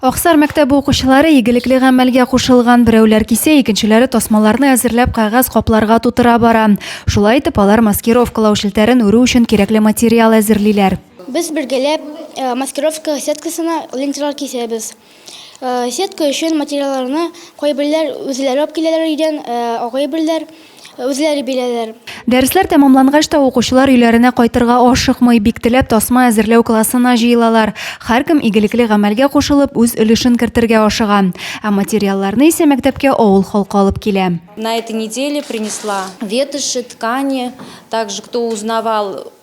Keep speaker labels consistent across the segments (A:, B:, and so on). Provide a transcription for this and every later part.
A: Аксар мәктәбе укучылары игелекле гамәлгә кушылган, берәүләр кисә, икенчеләре тасмаларны әзерләп кәгазь капларга тутыра бара. Шулай итеп, алар маскировкалау челтәрен үрү өчен кирәкле материал әзерлиләр. Без бергәләп
B: маскировка сеткасына ленталар кисәбез. Сетка өчен материалларны кайберләр үзләре алып киләләр өйдән, ә кайберләр, Үзләре биләләр. Дәресләр тәмамлангач
A: та укучылар өйләренә кайтырга ашыкмый, бик теләп тасма әзерләү классына җыелалар. Һәркем игелекле гамәлгә кушылып, үз өлешен кертергә ашыга. Ә материалларны исә мәктәпкә авыл халкы алып килә. На этой неделе
C: принесла ветоши, ткани, также кто узнавал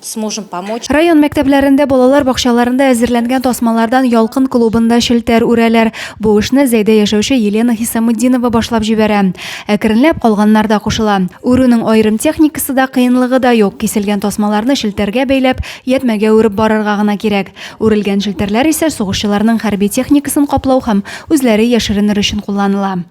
C: сможем помочь. Район мәктәпләрендә,
A: балалар бакчаларында әзерләнгән тасмалардан Ялкын клубында челтәр үрәләр. Бу эшне Зәйдә яшәүче Елена Хисамутдинова башлап җибәрә. Әкренләп калганнар да кушыла. Үрүнең аерым техникасы да, кыенлыгы да юк, киселгән тасмаларны челтәргә бәйләп, ятьмәгә үреп барырга гына кирәк. Үрелгән челтәрләр исә сугышчыларның хәрби техникасын каплау һәм үзләре яшеренер өчен кулланыла.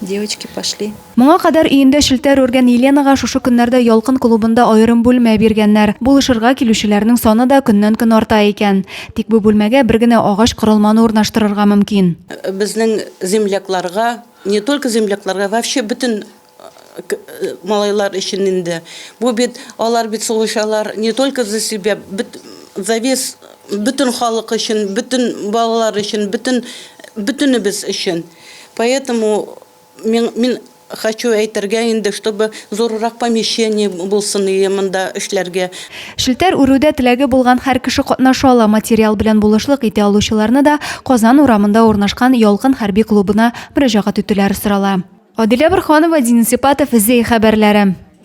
D: Девочки пошли. Моңа кадәр өендә
A: челтәр үргән Еленага шушы көннәрдә Ялкын клубында аерым бүлмә биргәннәр. Булышырга килүчеләрнең саны да көннән-көн арта икән. Тик бу бүлмәгә бер генә агач корылманы урнаштырырга мөмкин. Безнең
E: землякларга, не только землякларга, вообще бөтен малайлар өчен инде. Бу бит, алар бит сугышалар не только за себя, бөт, за весь, бөтен халык өчен, бөтен балалар өчен, бөтен, бөтенебез өчен. Поэтому мин, мин хочу әйтергә инде, чтобы зуррак помещение булсын иде монда эшләргә. Челтәр үрүдә
A: теләге булган һәр кеше катнаша ала, материал белән булышлык итә алучыларны да Казан урамында урнашкан Ялкын хәрби клубына мөрәҗәгать итүләре сорала. Адилә Борһанова, Дин Сипатов, Зәй хәбәрләре.